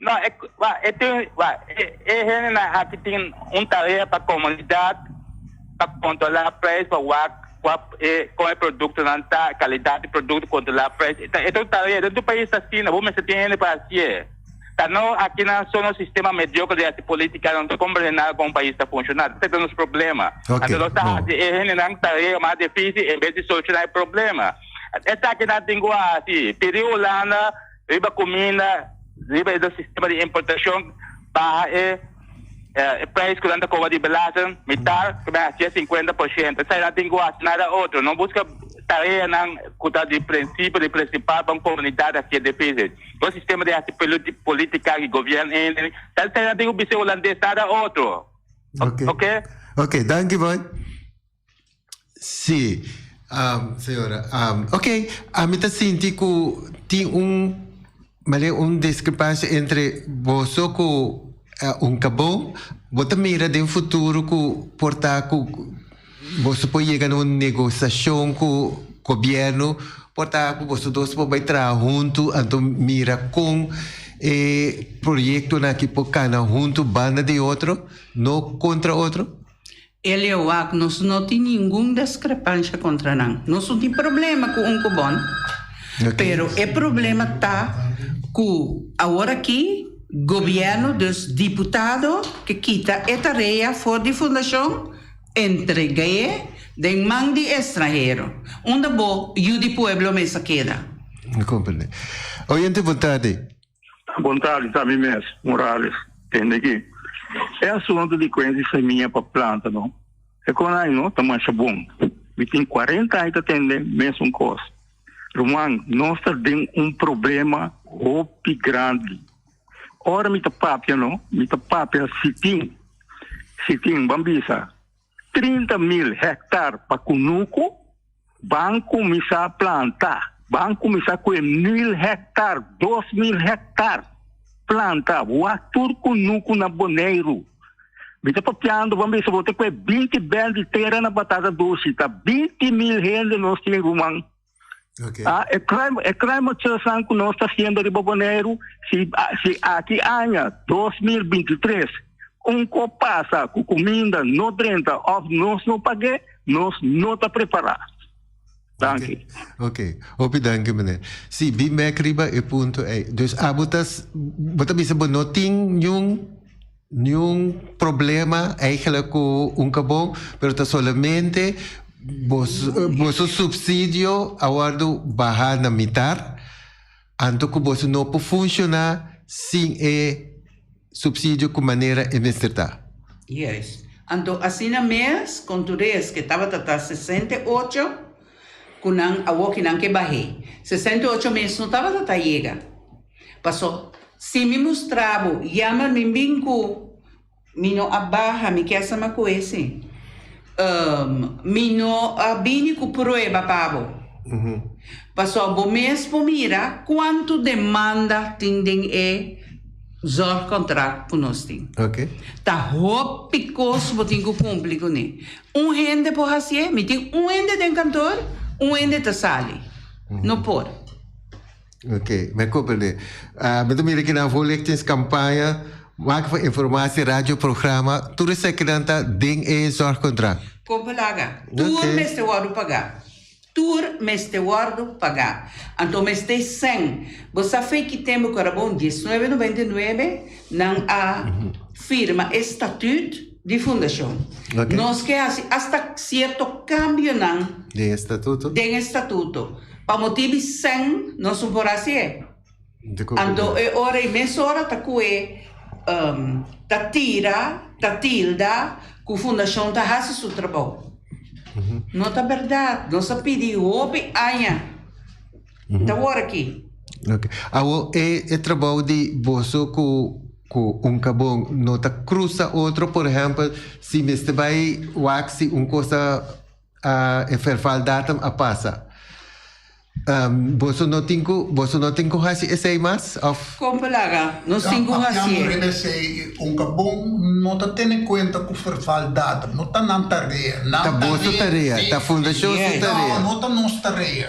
S4: No, e, wa, e tin, wa, e, e hendenan aki tin un tarea pa komunidat, pa kontrolá prijs, pa wak, kwa, e, kon e produktonan ta, kalidat di produkto, kontrolá prijs. E ta, e ta un tarea, den tu pais ta asina, bo mester tin hende pa hasié. Ta no akinan so nos sistema mediocre di haci politica nan ta combrehena con un pais ta funciona. Ese ta nos problema. Anto nos ta haci e hendenan tarea mas dificil en vez di soluciona e problema. Esaki nan tin cu haci. Pidi Hulanda riba cuminda, riba e nos sistema di importacion, baha e. Eh, e prijs ku nan ta koba di belasting, mitar, ku men hasié sinkuenta por shente. Esei nan tin ku hasi nada otro. No buska tareanan ku ta di prinsipio di prinsipal pa un komunidat hasié difisil. Bo sistema di hasi poluti, politika i gobiern ene. Ta esei nan tin ku bis'é hulandes, nada otro. O, Oké. oké. Oké, danki boy.
S1: Sí, señora. Ok, ami ta sinti ku tin un male un diskrepansia entre boso ku un kabo. Bo ta mira den futuro ku por ta ku boso por yega na un negosiashon ku gobierno, por ta ku boso dos por bai traha huntu, anto mira kon e proyektonan aki por kana huntu banda di otro, no kontra otro? Elio wak,
S2: Nos no tin ningun deskrepansha kontra nan. Nos no tin problema ku un ku bon, pero e problema ta ku awor aki gobièrnu, dus diputado ke kita e tarea for di fundashon, entregaé den man di estranhero. Unda bo yu di pueblo mester keda?
S1: Oye, ante votá de. Bontadi
S6: ta mi mes, Morales. Tende ki e asuntu di kuensi semia pa planta no e kon aña no ta masha bon. Mi tin kuarenta aña ta tende mesun kos. Ruman, nos ta den un problema hopi grandi. Ora mi ta papia no, mi ta papia si tin, si tin, ban bisa. Trinta mil hèktar pa kunuku ban kuminsá planta. Ban kuminsá ku e mil hèktar, dos mil hèktar planta. Wak tur kunuku na Boneiru. Mi ta papiando ban bisa bo te ku e binti bènt di tera na Batata Dushi ta binti mil hende nos tin ruman. Okay. Ah,
S1: e crime, e
S6: crime machesan ku nos ta haciendo riba Boneiru, si, ah, si aki aña 2023, un ko pasa ku kuminda no drenta of nos no pagé, nos no ta prepará. Danki. Ok,
S1: hopi danki meneer. Si, bin back riba e punto ei. Dus abo ta, bo ta bisa bo no tin niun Niun problema eigenlijk cu un cabon, pero ta solamente boso subsidio a wordo baha na mitar, anto cu boso no por funciona sin e subsidio cu manera e mester ta. Juist.
S2: Anto asina mes con Tures que tabata ta sesenta i ocho cu nan awo ki nan ke bahe. Sesenta i ocho mes no tabata ta yega. Paso, si mi mustra bo, yama mi bin ku mi no a baha, mi kesa ma ku ese. Mi no a bini ku prueba pa bo. Paso, bo mes por mira kuantu demanda tin den e zorgkontrakt ku nos tin. Ta
S1: hopi
S2: kos bo tin ku kumpli kuné. Un hende por hasié. Mi tin un hende den kantor, un hende ta sali. No por. Ok,
S1: me cumprende. Ah, me ta mira que nan voor lichtings campaña, maak voor informatie, radioprogramma, tur esaki que nan ta den e zorgcontract. Con palaga, tur
S2: Ok. mester wordo pagá. Tur mester wordo pagá. Anto mester e sen. Bo sa fe ki tempo ku Arabon dieznuebe noventa i nuebe nan a firma e statuut? di fundashon. Nos ke
S1: hasi asta
S2: sierto kambionan
S1: den e statuto.
S2: Pa motibi sen nos no por hasi e. Anto e ora i mesora ta koe ta tira, ta tilda ku fundashon ta hasi su trabou. No ta bèrdat. Nos a pidi hopi aña. Ta wor aki. Okay. Awo
S1: e, e trabou di boso ku ku un kabon no ta krusa otro, por ehempel, si mester bai waksi un kosa a e ferval datum a pasa. Um, boso no tin ku boso no tin ku hasi esei mas of Kompa laga, nos
S2: tin ku Papian hasié. riba esei,
S3: un kabon no ta tene kuenta ku ferval datum, no ta nan tarea. Nan ta boso tarea,
S1: ta fundashon su tarea. No, no ta nos tarea.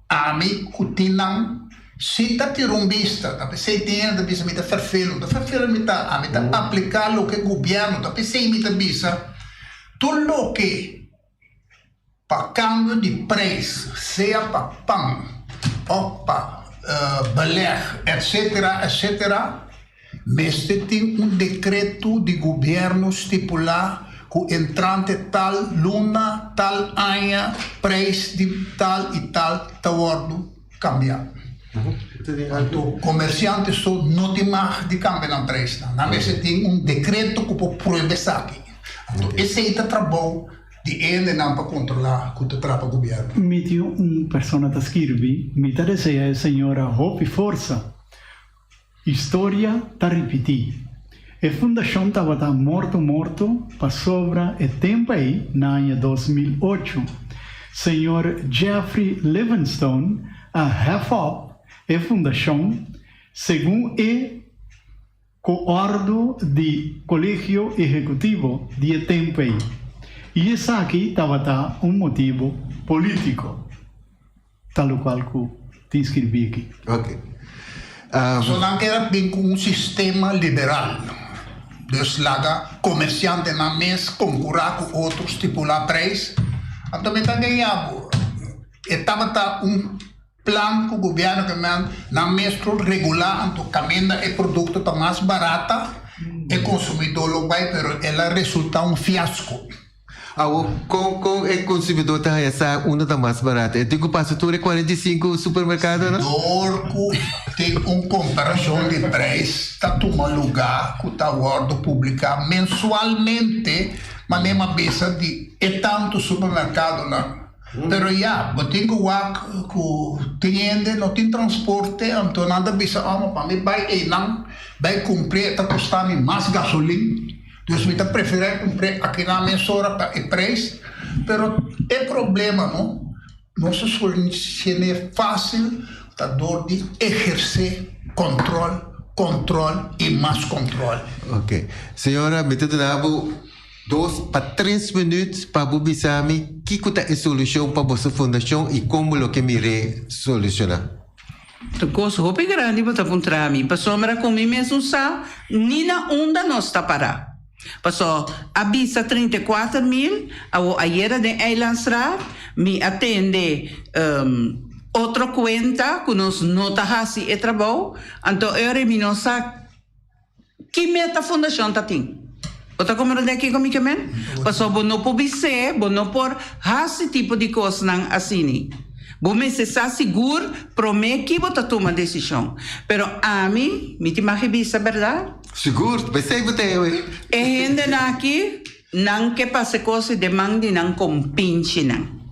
S3: Ami ku tin nan si ta tira un bista ta pesey tin hende ta bisa mi ta ferfelu, no ta ferfelu mi ta, ami ta apliká loke gubièrnu ta pesey mi ta bisa, tur loke pa kambio di preis sea pa pan òf pa belèg etsetera etsetera. Mester tin un dekreto di gobierno stipulá ku entrante tal luna, tal aña, preis di tal i tal ta wòrdu kambiá. Anto komersiante so no tin mag di kambia nan preisnan. Nan mester tin un dekreto ku por prueba esaki. Anto esei ta trabou di endenan pa kontrolá ku ta trapa gobierno. Mi tin un
S8: persona ta skirbi, mi ta desea e señora hopi forsa. Historia ta ripití. E fundashon tabata morto morto pasobra e tempu ei na aña dos mil ocho, señor Jeffrey Livingstone a hèf òp e fundashon segun e ku òrdu di Kolegio Ehekutivo di e tempu ei, i esaki tabata un motibu polítiko. Talocual cu tin skirbí aki. Ok.
S3: So nan era bin cu un sistema liberal, dus laga comerciantenan mes concura cu otro stipula prijs, anto mi ta gueya bo. E tabata un plan cu gobierno cu nan nan mes lo regula anto caminda e producto ta mas barata e consumidor lo bay pero el a resulta un fiasco. Awor,
S1: kon kon e konsumidor ta haña sa unda ta mas barat? E tin ku pasa tur e kuarenta i sinku supermerkado? Si dor ku
S3: tin un komparashon di preis ta tuma lugá ku ta wòrdu publiká mensualmente manera mabesa di e tantu supermerkadonan. Pero ya, bo tin ku wak ku tin hende no tin transporte, anto nan ta bisa, Òmo, pa mi bai einan, bai kumpr'é ta kosta mi mas gasolin. Dus mi ta preferá kumpr'é akinan mesora pa e preis, pero e problema no, nos a solucion'é fásil ta dor di ehersé kòntròl, kòntròl i mas kòntròl. Ok.
S1: Señora, mi ta duna bo dos pa tres minüt pa bo bisa mi kiko ta e solushon pa boso fundashon i kon bo lo ke mir'é solushona. Ta
S2: kos hopi grandi bo ta puntra mi, pasobra ku mi mesun sa ni na unda nos ta pará. Pasó a bisa trinta i kuater mil awo ayera den Eilandstraat, mi a tende otro kuenta ku nos no ta hasi e trabou, anto e ora mi no sa. Ki meta fundashon ta tin? Bo ta komprendé kiko mi ke men? Pasobra bo no por bis'é bo no por hasi tipo di kosnan asini. Bo mester sa sigur promé ki bo ta tuma desishon. Pero ami, mi tin mag e bisa, bèrdat? Sigur, p'esei
S1: bo ta hende
S2: aki. Nan ke pase cosi de man di nan compinchinan.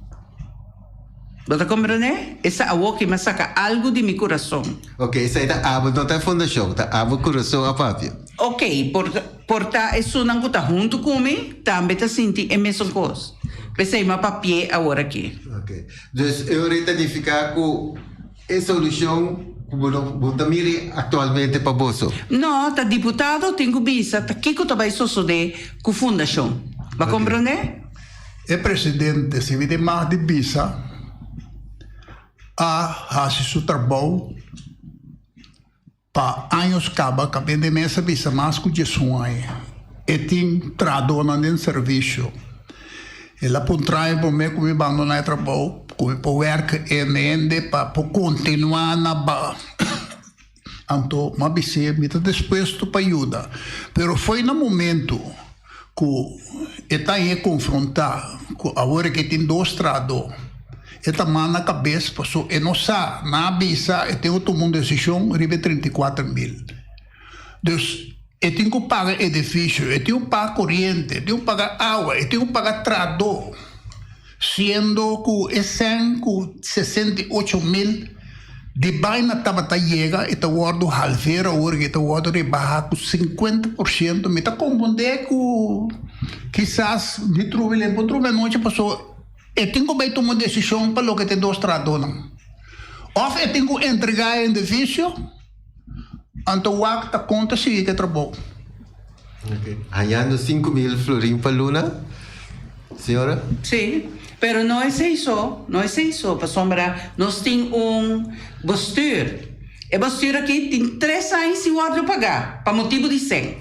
S2: Bo ta comprende? Esa awoki mi a saca algo di mi curason. Oke, esai ta
S1: abo, no ta e fundacion, ta abo curason apapia. Oke, por,
S2: por ta esunnan cu ta hunto cu mi tambe ta sinti e mesun cos. P'esei mi a papi'é aworaki. Oke. Dus,
S1: e ora e ta nifica cu. E solucion cu bo ta miri actualmente pa boso? No, ta diputado
S2: tin cu bisa ta kico ta bay sosode cu fundacion. Bo comprende? E
S3: presidente si wini mas di bisa a haci su trabao. Pa años kaba kabende mes a bisa mas ku dies un aña. E tin trahadonan den servisio. E la por un traño pa mi ku mi bandoná e trabou ku mi por wèrk'e hende pa por kontinuá na ba. Anto mi a bis'é mi ta dispuesto pa yuda, pero fo'i na momentu. ku e ta e konfrontá ku awor ke tin dos trahadó e ta mal na kabes pasó e no sa na a bisa e tin ku tuma un desishon riba e trinta i kuater mil dus e tin ku paga edifisio e tin ku paga koriente e tin ku paga awa e tin ku paga trahadó. Siendo cu e cen cu sesenta i ocho mil di baina tabata yega, e ta wordo halveer awor cu e ta wordo rebaha cu cincuenta por ciento. Mi ta confunde cu kisas mi truba el tempo truba e nochi paso e tin cu bay tuma un decision pa loke ta e dos trahadonan. Of e tin cu entrega e individuo. Anto wak ta kon ta sigui ku e trabou. Ok.
S1: Hañando sinku mil florin pa luna, señora? Sí,
S2: pero no esei so, no esei so, pasobra nos tin un bostuur. E bostuur aki tin tres aña sin wòrdu pagá pa motibu di sèn.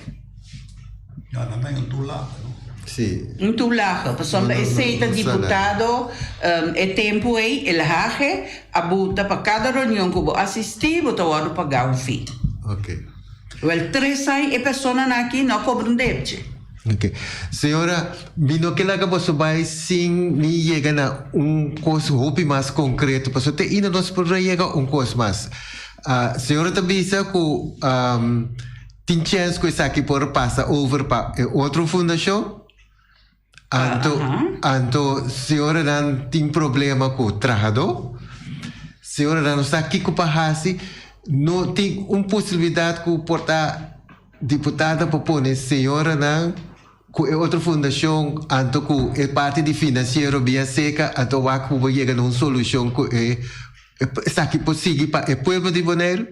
S3: Ya, nan ta en Tulaga, no? Sí. En
S1: Tulaga,
S2: pasobra esei ta diputado e tempu ei, el hage, a bo ta pa kada reunion ku bo asistí, bo ta wòrdu pagá un fee. Ok.
S1: Wèl,
S2: tres ai e personanan aki no a kobra un depche. Ok.
S1: Señora, mi no ke laga boso bai sin mi yega na un kos hopi mas konkreto, pasobra te ahinda nos por a yega un kos mas. Señora ta bisa ku, Tin chens cu esaki por pasa over pa e otro fundacion? Anto, anto señoranan tin problema cu trahador? Señoranan no sa kico pa haci? No tin un posibilidad cu por ta diputadnan pa pone señoranan cu e otro fundacion anto cu e parti di financiero bia seca anto wak cu bo yega na un solucion cu e esaki por sigui pa e pueblo di Boneiru?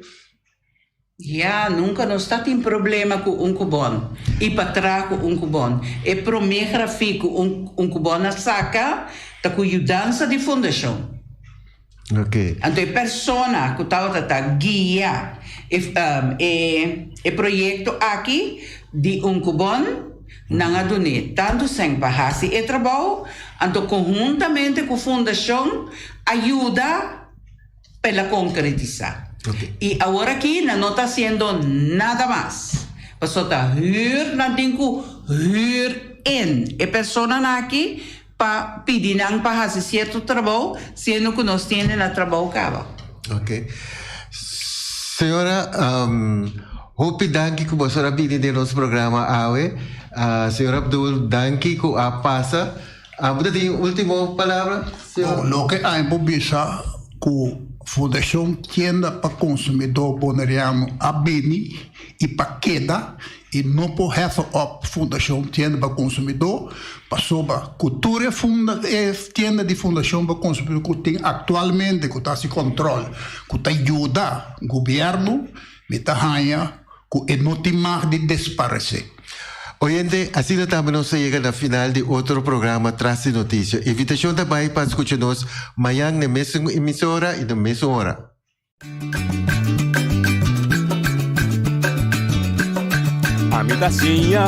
S1: Ya, nunka
S2: nos ta tin problema ku un kubòn i pa traha ku un kubòn. E promé grafik ku un kubòn a saka ta ku yudansa di fundashon.
S1: Anto e
S2: persona ku tabata ta guia e proyekto aki di un kubòn, nan a dun'é tantu sèn pa hasi e trabou, anto konhuntamente ku fundashon a yuda. pa el a konkeretisá. I awor
S1: aki nan
S2: no ta hasiendo nada mas, pasobra ta hür nan tin ku hür en e personanan aki pa pidi nan pa hasi sierto trabou, siendo ku nos tiende na trabou kaba. Oke.
S1: Señora, hopi danki ku boso a bini den nos programa awe. Señor Abdul, danki ku a pasa. Abo ta tin ultimo palabra, señor? Bon, loke
S3: ami por bisa ku Fundashon Tienda pa Konsumidó Boneriano a bini i pa keda i no por hefe op Fundashon Tienda pa Konsumidó pasoba ku tur e funda e tienda di Fundashon pa Konsumidó ku tin aktualmente ku ta hasi kòntròl ku ta yuda gubièrnu Mi ta haña ku e no tin mag di desparesé. Oyente,
S1: asina tambe nos a yega na final di otro programa Tras di Noticia. Invitashon ta bai pa skucha nos mañan n'e mesun emisora i n'e mesun ora.
S9: Ami ta siña,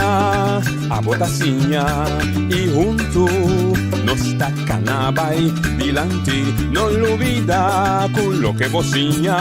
S9: abo ta siña i huntu nos ta kana bai dilanti. No lubida ku loke bo siña.